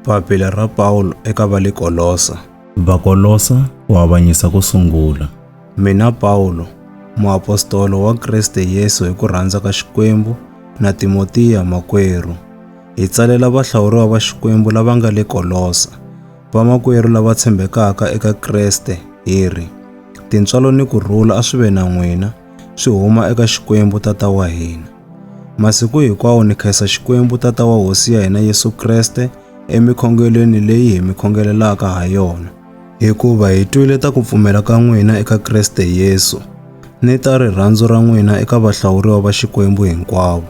Papila ra Pawulo eka va le Kolosa. Vakolosa ku avanyisa ku sungula. Mina Pawulo, muapostolo wa Kriste Yesu hi ku rhandza ka Xikwembu, na Timotiya makwerhu, hi tsalela vahlawuriwa va Xikwembu lava nga le Kolosa, vamakwerhu lava tshembekaka eka Kriste, hi ri, Tintswalo ni ku rhula a swi ve na n'wina, swi huma eka Xikwembu Tata wa hina. Masiku hinkwawo ni khensa Xikwembu Tata wa Hosi ya hina Yesu Kreste emikhongelweni leyi hi mi khongelelaka ha yona. Hikuva hi twile ta ku pfumela ka n'wina eka Kreste Yesu, ni ta rirhandzu ra n'wina eka vahlawuriwa va Xikwembu hinkwavo,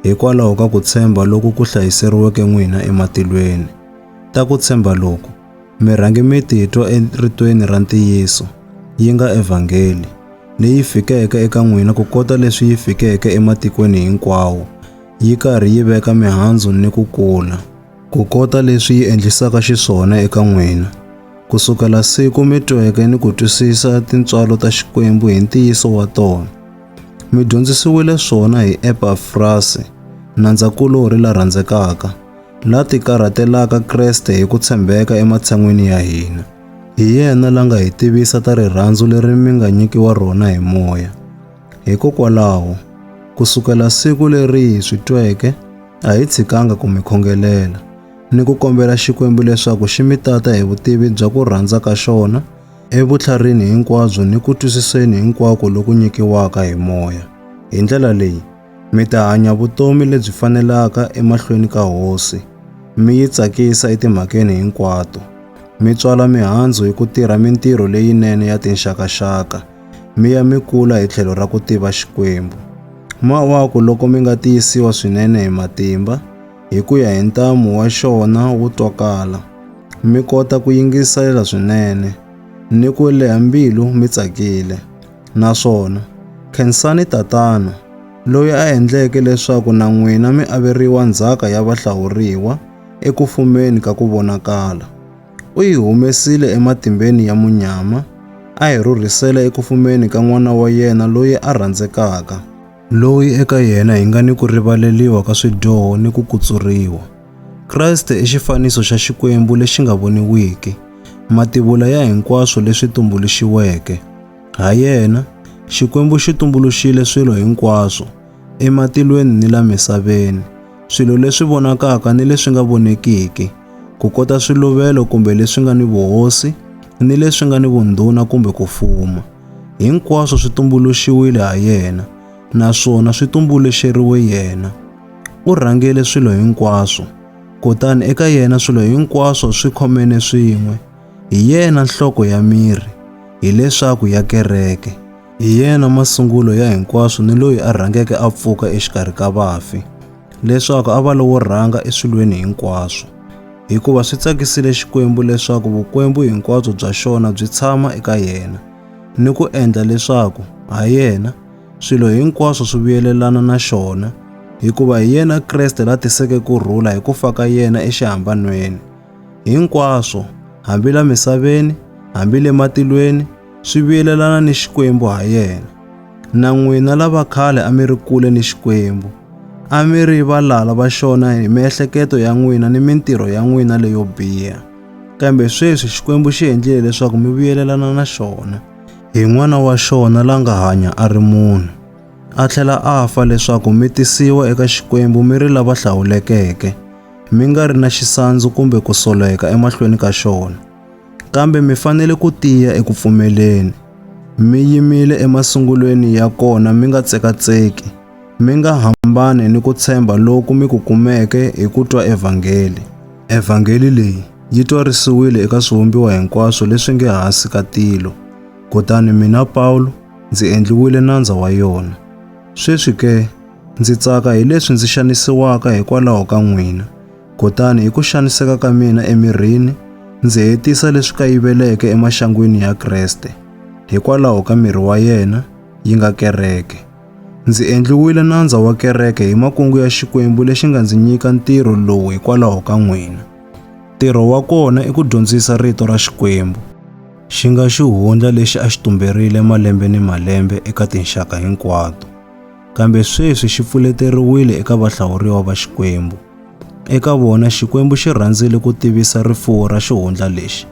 hikwalaho ka ku tshemba loku ku hlayiseriweke n'wina ematilweni. Ta ku tshemba loku Mi rhange mi titwa eritweni ra ntiyiso, yi nga evhangeli, leyi fikeke eka n'wina ku kota leswi yi fikeke ematikweni hinkwawo, yi karhi yi veka mihandzu ni ku kula, ku kota leswi yi endlisaka xiswona eka n'wina, ku sukela siku mi tweke ni ku twisisa tintswalo ta Xikwembu hi ntiyiso wa tona. Mi dyondzisiwile swona hi Epafrasi, nandza-kulorhi la rhandzekaka, la tikarhatelaka Kreste hi ku tshembeka ematshan'wini ya hina. Hi yena la nga hi tivisa ta rirhandzu leri mi nga nyikiwa rona hi moya. Hikokwalaho, ku sukela siku leri hi swi tweke, a hi tshikanga ku mi khongelela ni ku kombela Xikwembu leswaku xi mi tata hi vutivi bya ku rhandza ka xona evutlharini hinkwabyo ni ku twisiseni hinkwako loku nyikiwaka hi moya. Hi ndlela leyi, Mi ta hanya vutomi lebyi fanelaka emahlweni ka Hosi, mi yi tsakisa etimhakeni hinkwato, mi tswala mihandzu hi ku tirha mintirho leyinene ya tinxakaxaka, mi ya mi kula hi tlhelo ra ku tiva Xikwembu. Mawaku loko mi nga tiyisiwa swinene hi matimba, hi ku ya hi ntamu wa xona wu twakala, mi kota ku yingiselela swinene, ni ku leha mbilu mi tsakile. Naswona khensani tatana loyi a endleke leswaku na n'wina mi averiwa ndzhaka ya vahlawuriwa eku fumeni ka ku vonakala. U hi humesile ematimbeni ya munyama a hi rhurhisela eku fumeni ka n'wana wa yena loyi a rhandzekaka, loyi eka yena hi nga ni ku rivaleriwa ka swidyoho ni ku kutsuriwa. Kreste i xifaniso xa Xikwembu lexi nga voniwiki, mativula ya hinkwaswo leswi tumbuluxiweke. Ha yena, Xikwembu xi tumbuluxile swilo hinkwaswo, ematilweni ni la misaveni, swilo leswi vonakaka ni leswi nga vonekiki, ku kota swiluvelo kumbe leswi nga ni vuhosi, ni leswi nga ni vundhuna kumbe ku fuma. Hinkwaswo swi tumbuluxiwile ha yena. naswona swi tumbuluxeriwe yena. U rhangele swilo hinkwaswo, kutani eka yena swilo hinkwaswo swi khomene swin'we. Hi yena nhloko ya miri, hileswaku ya kereke. Hi yena masungulo ya hinkwaswo ni loyi a rhangeke a pfuka exikarhi ka vafi, leswaku a va lowo rhanga eswilweni hinkwaswo. Hikuva swi tsakisile Xikwembu leswaku vukwembu hinkwabyo bya xona byi tshama eka yena, ni ku endla leswaku ha yena swilo hinkwaswo swi vuyelelana na xona, hikuva hi yena Kreste la tiseke ku rhula hi ku fa ka yena exihambanweni. Hinkwaswo, hambi la misaveni, hambi le matilweni, swi vuyelelana ni Xikwembu ha yena. Na n'wina lava khale a mi ri kule ni Xikwembu, a mi ri valala va xona hi miehleketo ya n'wina ni mintirho ya n'wina leyo biha. Kambe sweswi Xikwembu xi endlile leswaku mi vuyelelana na xona. hi n'wana wa xona la nga hanya a ri munhu, a tlhela a fa leswaku mi tisiwa eka Xikwembu mi ri lava hlawulekeke, mi nga ri na xisandzu kumbe ku soleka emahlweni ka xona. Kambe mi fanele ku tiya eku pfumeleni, mi yimile emasungulweni ya kona mi nga tsekatseki, Mi nga hambani ni ku tshemba loku mi ku kumeke hi ku twa evhangeli. Evhangeli leyi yi twarisiwile eka swivumbiwa hinkwaswo leswi nge hansi ka tilo. Kutani mina Pawulo ndzi endliwile nandza wa yona. Sweswi ke, ndzi tsaka hi leswi ndzi xanisiwaka hikwalaho ka n'wina. Kutani hi ku xaniseka ka mina emirini, ndzi hetisa leswi kayiveleke emaxangwini ya Kreste, hikwalaho ka miri wa yena, yi nga kereke. Ndzi endliwile nandza wa kereke hi makungu ya Xikwembu lexi nga ndzi nyika ntirho lowu hikwalaho ka n'wina. Ntirho wa kona i ku dyondzisa rito ra Xikwembu. Xi nga xihundla lexi a xi tumberile malembe ni malembe eka tinxaka hinkwato, kambe sweswi xi pfuleteriwile eka vahlawuriwa va Xikwembu. Eka vona Xikwembu xi rhandzile ku tivisa rifuwo ra xihundla lexi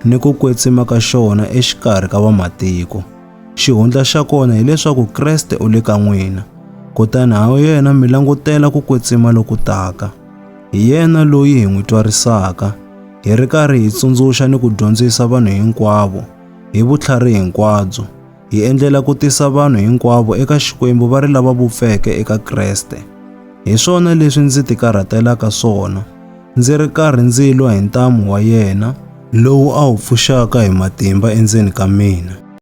ni ku kwetsima ka xona exikarhi ka vamatiko. Xihundla xa kona hileswaku Kreste u le ka n'wina, kutani ha yena mi langutela ku kwetsima loku taka. Hi yena loyi hi n'wi twarisaka, hi ri karhi hi tsundzuxa ni ku dyondzisa vanhu hinkwavo hi vutlhari hinkwabyo, hi endlela ku tisa vanhu hinkwavo eka Xikwembu va ri lava vupfeke eka Kreste. Hi swona leswi ndzi tikarhatelaka swona, ndzi ri karhi ndzi lwa hi ntamu wa yena, lowu a wu pfuxaka hi matimba endzeni ka mina.